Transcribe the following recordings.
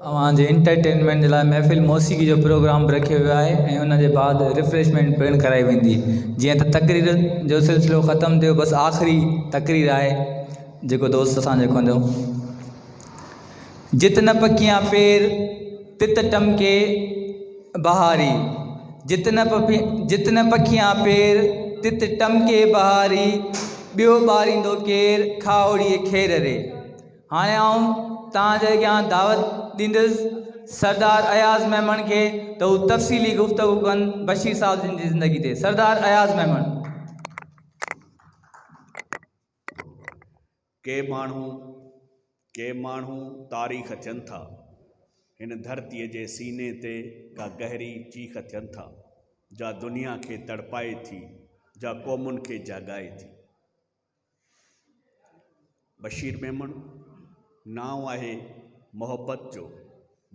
اوهان جي انٽرٽينمينٽ جي لاء محفل موسيقي جو پروگرام به رکيو ويو آهي ۽ ان جي بعد ريفريشمينٽ پڻ ڪرائي ويندي جيئن ته تقرير جو سلسلو ختم ٿيو بس آخري تقرير آهي جيڪو دوست اسان جو ڪندو جت نه پکيان پير تت ٽمڪي بهاري جت نه جت نه پکيان پير تت ٽمڪي بهاري ٻيو ٻاريندو ڪير کاهوڙي کير ري هاڻي آئون توهان جي اڳيان دعوت ڏيندس سردار اياز ميمڻ کي ته هو تفصيلي گفتگو ڪن بشير صاحب جن جي زندگي تي. سردار اياز ميمڻ. ڪي ماڻهو ڪي ماڻهو تاريخ ٿين ٿا هن ڌرتي جي سيني تي ڪا گهري چيخ ٿين ٿا جا دنيا کي تڙپائي ٿي جا قومن کي جاڳائي ٿي. بشير ميمڻ نانء آهي محبت جو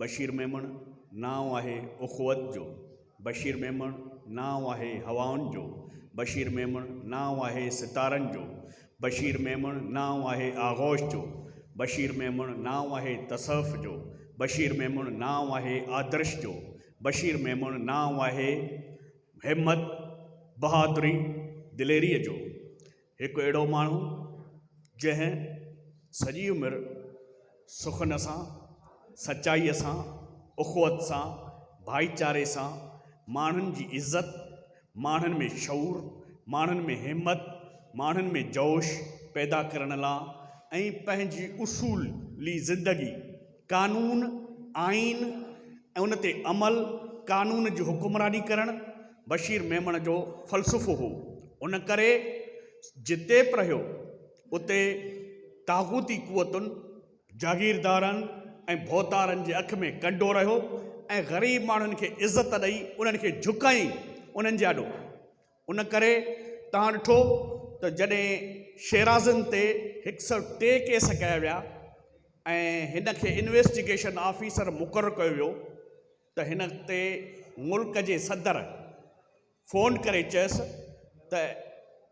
بشير ميمڻ نانء آهي اخوت جو بشير ميمڻ نانء آهي هوائن جو بشير ميمڻ نانء آهي ستارن جو بشير ميمڻ نانء آهي آغوش جو بشير ميمڻ نانء آهي تصوف جو بشير ميمڻ نانء آهي آدرش جو بشير ميمڻ نانء آهي همت، بهادري، دليريء جو هڪ اهڙو ماڻهو جنهن سڄي عمر سخن سان، سچائيء سان، اخوت سان، ڀائيچاري سان، ماڻهن جي عزت، ماڻهن ۾ شعور، ماڻهن ۾ همت، ماڻهن ۾ جوش پيدا ڪرڻ لا۽ پنهنجي اصولي زندگي. قانون، آئين ۽ ان تي عمل، قانون جي حڪمراني ڪرڻ بشير ميمڻ جو فلسفو هو. ان ڪري جتي به رهيو اتي طاغوتي قوتن، جاگيردارن ۽ ڀوتارن جي اک ۾ ڪنڊو رهيو ۽ غريب ماڻهن کي عزت ڏئي انهن کي جهڪائي انهن جي آڏو ان ڪري توهان ڏٺو ته جڏهن شيرازن تي هڪ سئو ٽي ڪيس ڪيا ويا ۽ هن کي انويسٽيگيشن آفيسر مقرر ڪيو ويو ته هن تي ملڪ جي صدر فون ڪري چيس ته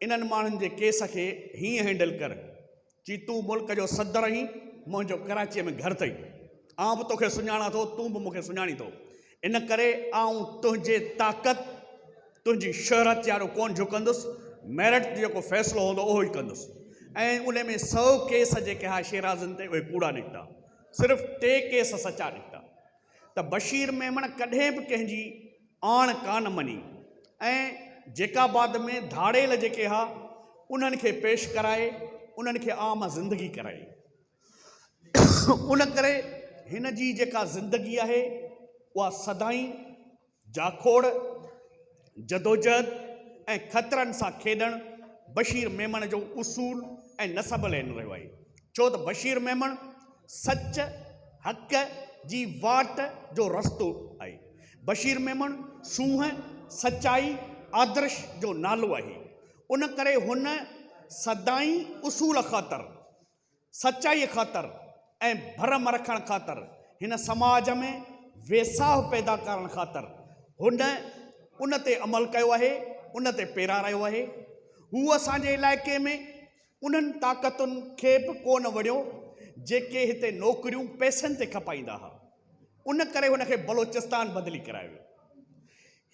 انهن ماڻهن جي ڪيس کي هيئن هينڊل ڪر چي تون ملڪ جو صدر آهين، منهنجو ڪراچيء ۾ گهر اٿئي، آئون به توکي سڃاڻان ٿو، تون به مون کي سڃاڻين ٿو، ان ڪري آئون تنهنجي طاقت، تنهنجي شهرت جي آڏو ڪونه جهڪندس، ميرٽ جو جيڪو فيصلو هوندو اهو ئي ڪندس. ۽ ان ۾ سؤ ڪيس جيڪي ها شيرازن تي اهي ڪوڙا نڪتا، صرف ٽي ڪيس سچا نڪتا، ته بشير ميمڻ ڪڏهن به ڪنهن جي آڻ ڪانه مڃي ۽ جيڪاباد ۾ ڌاڙيل جيڪي ها انهن کي پيش ڪرائي انهن کي عام زندگي ڪرائي ان ڪري هن جي جيڪا زندگي آهي اها سدائين جاکوڙ، جدوجهد ۽ خطرن سان کيڏڻ بشير ميمڻ جو اصول ۽ نسب العين رهيو آهي، ڇو ته بشير ميمڻ سچ، حق جي واٽ جو رستو آهي. بشير ميمڻ سونهن، سچائي، آدرش جو نالو آهي. ان ڪري هن سدائين اصول خاطر سچائيء خاطر ۽ ڀرم رکڻ خاطر، هن سماج ۾ ويساهه پيدا ڪرڻ خاطر هن ان تي عمل ڪيو آهي، ان تي پيرارايو آهي. هو اسان جي علائقي ۾ انهن طاقتن کي به ڪونه وڻيو، جيڪي هتي نوڪريون پئسن تي کپائيندا ها. ان ڪري هن کي بلوچستان بدلي ڪرايو ويو.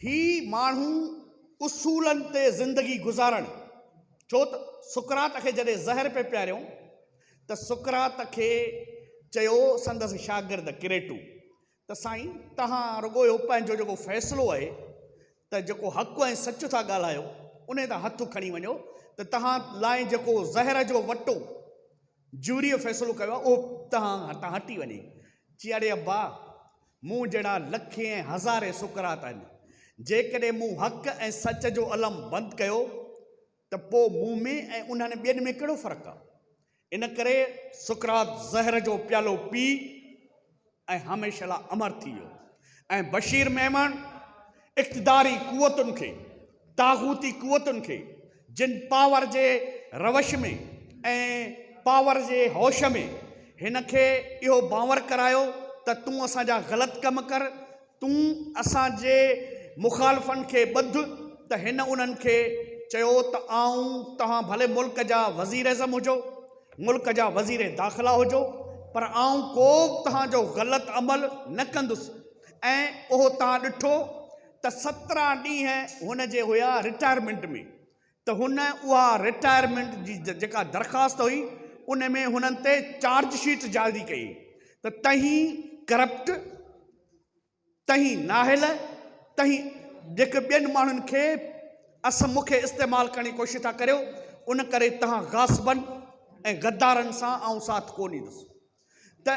هي ماڻهو اصولن تي زندگي گذارڻ ڇو ته سقراط کي جڏهن زهر پئي پياريو ته سقراط کي چيو سندس شاگرد ڪريٽو ته سائين توهان رڳو اهو پنهنجو جيڪو فيصلو آهي ته جيڪو حق ۽ سچ ٿا ڳالهايو انهي تان هٿ کڻي وڃو ته توهان لاء جيڪو زهر جو وٽو جوريء فيصلو ڪيو آهي، اهو تهان هتان هٽي وڃي چيائين، اڙي ابا! مون جهڙا لکين ۽ هزارين سقراط آهن، جيڪڏهن مون حق ۽ سچ جو علم بند ڪيو ته پوء مون ۾ ۽ انهن ٻين ۾ ڪهڙو فرق آهي؟ ان ڪري سقراط زهر جو پيالو پي ۽ هميشه لاء امر ٿي ويو ۽ بشير ميمڻ اقتداري قوتن کي طاغوتي قوتن کي جن پاور جي روش ۾ ۽ پاور جي هوش ۾ هن کي اهو بانور ڪرايو ته تون اسان جا غلط ڪم ڪر تون اسان جي مخالفن کي ٻڌ ته هن انهن کي چيو ته آئون توهان ڀلي ملڪ جا وزير اعظم هجو، ملڪ جا وزير داخلا هجو پر آئون ڪو به توهان جو غلط عمل نه ڪندس ۽ اهو توهان ڏٺو ته سترهن ڏينهن هن جي هيا رٽائرمينٽ ۾ ته هن اها رٽائرمينٽ جي جيڪا درخواست هئي ان ۾ هنن تي چارج شيٽ جاري ڪئي ته تهين ڪرپٽ تهين ناهل تهين جيڪي ٻين ماڻهن کي اسم مون کي استعمال ڪرڻ جي ڪوشش ٿا ڪريو ان ڪري تهان غاصبن ۽ غدارن سان آئون ساٿ ڪو ڏيندس. ته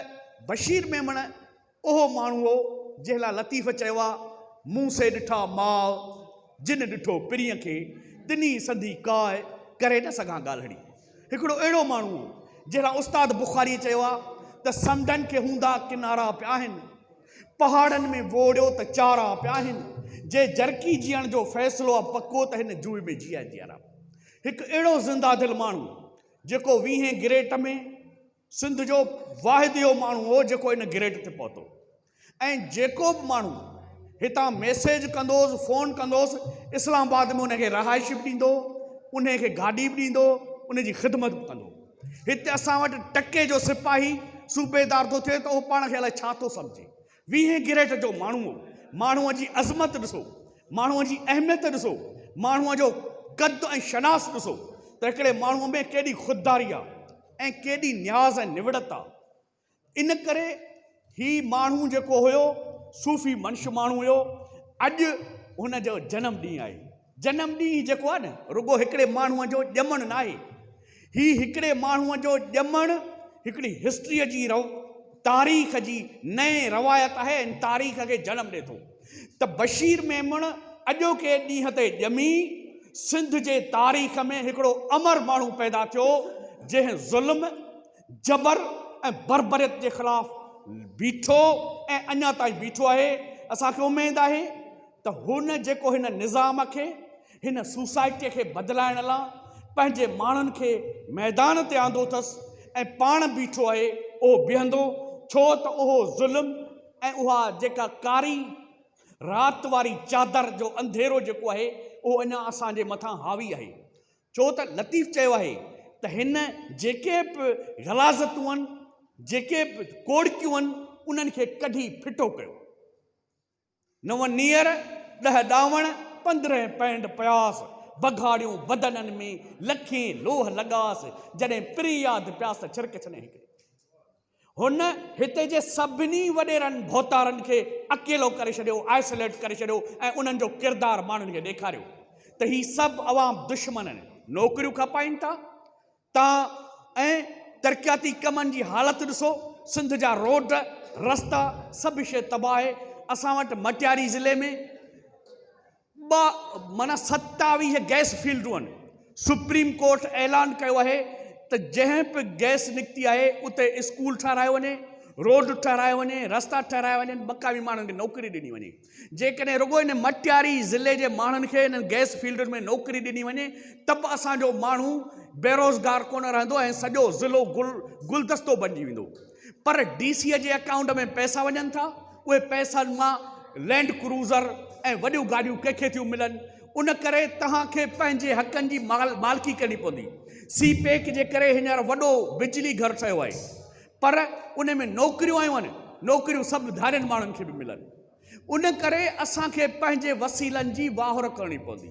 بشير ميمڻ اهو ماڻهو هو، جنهن لاء لطيف چيو آهي، مون سي ڏٺا ماء، جن ڏٺو پرينء کي، تنهي سندي ڪاء، ڪري نه سگهان ڳالهڙي. هڪڙو اهڙو ماڻهو هو، جنهن لاء استاد بخاريء چيو آهي ته سمنڊن کي هوندا ڪنارا پيا آهن، پهاڙن ۾ ووڙيو ته چارا پيا آهن، جي جرڪي جيئڻ جو فيصلو آهي پڪو ته هن جوء ۾ جيئي جيئرا. هڪ اهڙو زنده دل ماڻهو، جيڪو ويهين گريٽ ۾. سنڌ جو واحد اهو ماڻهو هو جيڪو ان گريڊ تي پهتو ۽ جيڪو به ماڻهو هتان ميسيج ڪندو هوس فون ڪندو هوس اسلام آباد ۾ ان کي رهائش به ڏيندو ان کي گاڏي به ڏيندو ان جي خدمت به ڪندو هتي اسان وٽ ٽڪي جو سپاهي صوبيدار ٿو ٿئي ته اهو پاڻ کي الائي ڇا ٿو سمجهي ويهين ڪيريٽ جو ماڻهو هو. ماڻهوء جي عظمت ڏسو، ماڻهوء جي اهميت ڏسو، ماڻهوء جو قد ۽ شناس ڏسو ته هڪڙي ماڻهوء ۾ ڪيڏي خودداري آ ۽ ڪيڏي نياز ۽ نوڙت آ. ان ڪري هي ماڻهو جيڪو هيو صوفي منش ماڻهو هيو. اڄ هن جو جنم ڏينهن آهي. جنم ڏينهن جيڪو آهي نه رڳو هڪڙي ماڻهو جو ڄمڻ ناهي هي هڪڙي ماڻهو جو ڄمڻ هڪڙي هسٽري جي رو تاريخ جي نئين روايت آهي ۽ تاريخ کي جنم ڏي ٿو ته بشير ميمڻ اڄوڪي ڏينهن تي ڄمي سنڌ جي تاريخ ۾ هڪڙو امر ماڻهو پيدا ٿيو جنهن ظلم جبر ۽ بربريت جي خلاف بيٺو ۽ اڃا تائين بيٺو آهي اسان کي اميد آهي ته هن جيڪو هن نظام کي، هن سوسائٽيء کي بدلائڻ لا پنهنجي ماڻهن کي ميدان تي آندو اٿس ۽ پاڻ بيٺو آهي، اهو بيهندو، ڇو ته اهو ظلم ۽ اها جيڪا ڪاري رات واري چادر جو انڌيرو جيڪو آهي، اهو اڃا اسان جي مٿان حاوي آهي. ڇو ته لطيف چيو آهي ته هن جيڪي به غلاظتون آهن، جيڪي به ڪوڙڪيون آهن، انهن کي ڪڍي ڦٽو ڪيو. نو نير، ڏهه ڏاوڻ، پندرهن پينڊ پياس، بگهاڙيون بدنن ۾، لکين لوهه لڳاس، جڏهن پرين ياد پياس ته ڇرڪ ڇني هڪڙي. هن هتي جي سڀني وڏيرن ڀوتارن کي اڪيلو ڪري ڇڏيو، Isolate ڪري ڇڏيو ۽ انهن جو ڪردار ماڻهن کي ڏيکاريو ته هي سڀ عوام دشمن نوڪريون کپائين ٿا، تان ۽ ترقياتي ڪمن جي حالت ڏسو سنڌ جا روڊ رستا سڀ شيء تباهه اسان وٽ مٽياري ضلعي ۾ ٻه معنيٰ ستاويهه گئس فيلڊون آهن سپريم ڪورٽ اعلان ڪيو آهي ته جنهن به گئس نڪتي آهي اتي اسڪول ٺهرايو وڃي روڊ ٺهرايو وڃي رستا ٺهرايا وڃن مقامي ماڻهن کي نوڪري ڏني وڃي جيڪڏهن رڳو هن مٽياري ضلعي جي ماڻهن کي انهن گئس فيلڊن ۾ نوڪري ڏني وڃي ته به اسان جو ماڻهو بيروزگار ڪونه رهندو ۽ سڄو ضلعو گل گلدستو بنجي ويندو پر ڊي سي جي اڪائونٽ ۾ پئسا وڃن ٿا اهي پئسن مان لينڊ ڪروزر ۽ وڏيون گاڏيون ڪنهن کي ٿيون ملن ان ڪري توهان کي پنهنجي حقن جي مالڪي ڪرڻي پوندي سي پيڪ جي ڪري هينئر وڏو بجلي گهر ٺهيو آهي پر ان ۾ نوڪريون آيون آهن، نوڪريون سڀ ڌارين ماڻهن کي به ملن، ان ڪري اسان کي پنهنجي وسيلن جي واهر ڪرڻي پوندي.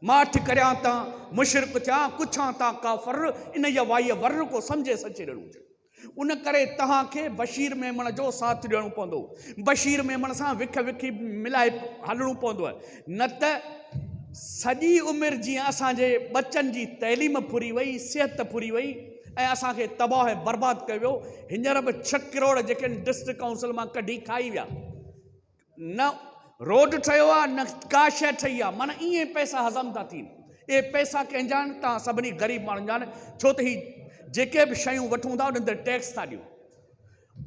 ماٺ ڪريان ته مشرڪ ٿيان، ڪڇان ته ڪافر، انهيء وائيء ورن ڪو سمجهي سچي ڏيڻو هجي. ان ڪري توهان کي بشير ميمڻ جو ساٿ ڏيڻو پوندو. بشير ميمڻ سان وک وکي ملائي هلڻو پوندو، نه ته سڄي عمر جيئن اسان جي ٻچن جي تعليم ڦري وئي، صحت ڦري وئي، ۽ اسان کي تباهه ۽ برباد ڪيو ويو هينئر به ڇهه ڪروڙ جيڪي ڊسٽرڪٽ ڪائونسل مان ڪڍي کائي ويا نه روڊ ٺهيو آهي نه ڪا شيء ٺهي آهي معنيٰ ائين پئسا هضم ٿا ٿين اهي پئسا ڪنهن جا آهن توهان سڀني غريب ماڻهن جا آهن ڇو ته هي جيڪي به شيون وٺون ٿا انهن تي ٽيڪس ٿا ڏيون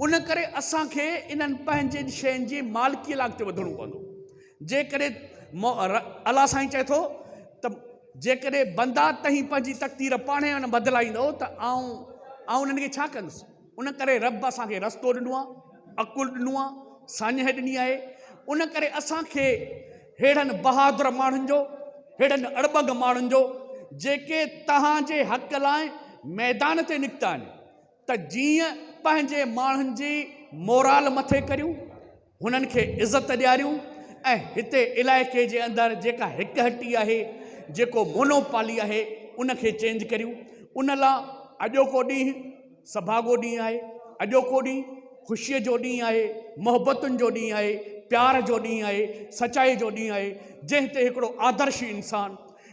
ان ڪري اسان کي انهن پنهنجين شين جي مالڪيء لاء اڳتي وڌڻو پوندو. جيڪڏهن مو ر الله سائين چئي ٿو ته جيڪڏهن بندا تهين پنهنجي تقدير پاڻهي نه بدلائيندؤ ته آئون آئون انهن کي ڇا ڪندس؟ ان ڪري رب اسان کي رستو ڏنو آهي، عقل ڏنو آهي، ساڃهه ڏني آهي. ان ڪري اسان کي ههڙن بهادر ماڻهن جو، ههڙن اڙٻنگ ماڻهن جو جيڪي توهان جي حق لاء ميدان تي نڪتا آهن، ته جيئن پنهنجي ماڻهن جي مورال مٿي ڪريون، هنن کي عزت ڏياريون ۽ هتي علائقي جي اندر جيڪا هڪ هٽي آهي، جيڪو مونو پالي آهي، ان کي چينج ڪريون. ان لا اڄوڪو ڏينهن سڀاڳو ڏينهن آهي، اڄوڪو ڏينهن خوشيء جو ڏينهن آهي، محبتن جو ڏينهن آهي، پيار جو ڏينهن آهي، سچائي جو ڏينهن آهي، جنهن تي هڪڙو آدرشي انسان،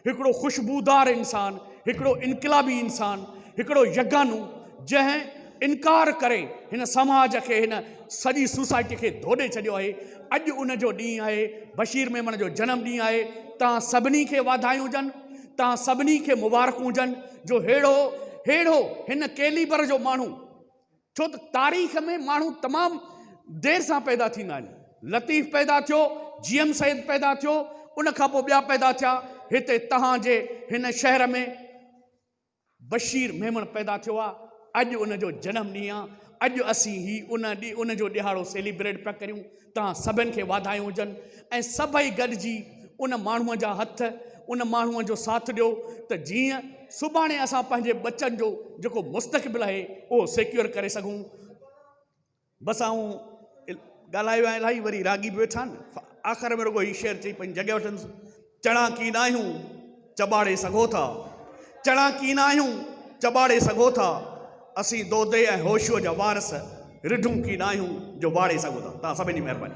هڪڙو خوشبودار انسان، هڪڙو انقلابي انسان، هڪڙو يگانو جنهن انڪار ڪري هن سماج کي هن سڄي سوسائٽي کي ڌوڏي ڇڏيو آهي اڄ ان جو ڏينهن آهي بشير ميمڻ جو جنم ڏينهن آهي توهان سڀني کي واڌايون هجن توهان سڀني کي مبارڪون هجن جو ههڙو ههڙو هن ڪيليبر جو ماڻهو ڇو ته تاريخ ۾ ماڻهو تمام دير سان پيدا ٿيندا آهن. لطيف پيدا ٿيو، جي ايم سيد پيدا ٿيو، ان کان پوء ٻيا پيدا ٿيا، هتي توهان جي هن شهر ۾ بشير ميمڻ پيدا ٿيو آهي، اڄ ان جو جنم ڏينهن آهي، اڄ اسين هي ان جو ڏهاڙو سيليبريٽ پيا ڪريون. توهان سڀن کي واڌايون هجن ۽ سڀئي گڏجي ان ماڻهوء جا هٿ ان ماڻهوء جو ساٿ ڏيو ته جيئن سڀاڻي اسان پنهنجي ٻچن جو جيڪو مستقبل آهي اهو سيڪيور ڪري سگهون بس آئون ڳالهايو آهي الاهي وري راڳي به ويٺا آهن آخر ۾ رڳو هي شعر چئي پنهنجي جڳهه وٺندس چڻا ڪين آهيون چٻاڙي سگهو ٿا، چڻا ڪين آهيون چٻاڙي سگهو ٿا، اسين دودي ۽ هوشوء جا وارث رڍون ڪين آهيون جو واڙي سگهو ٿا. توهان سڀني جي مهرباني.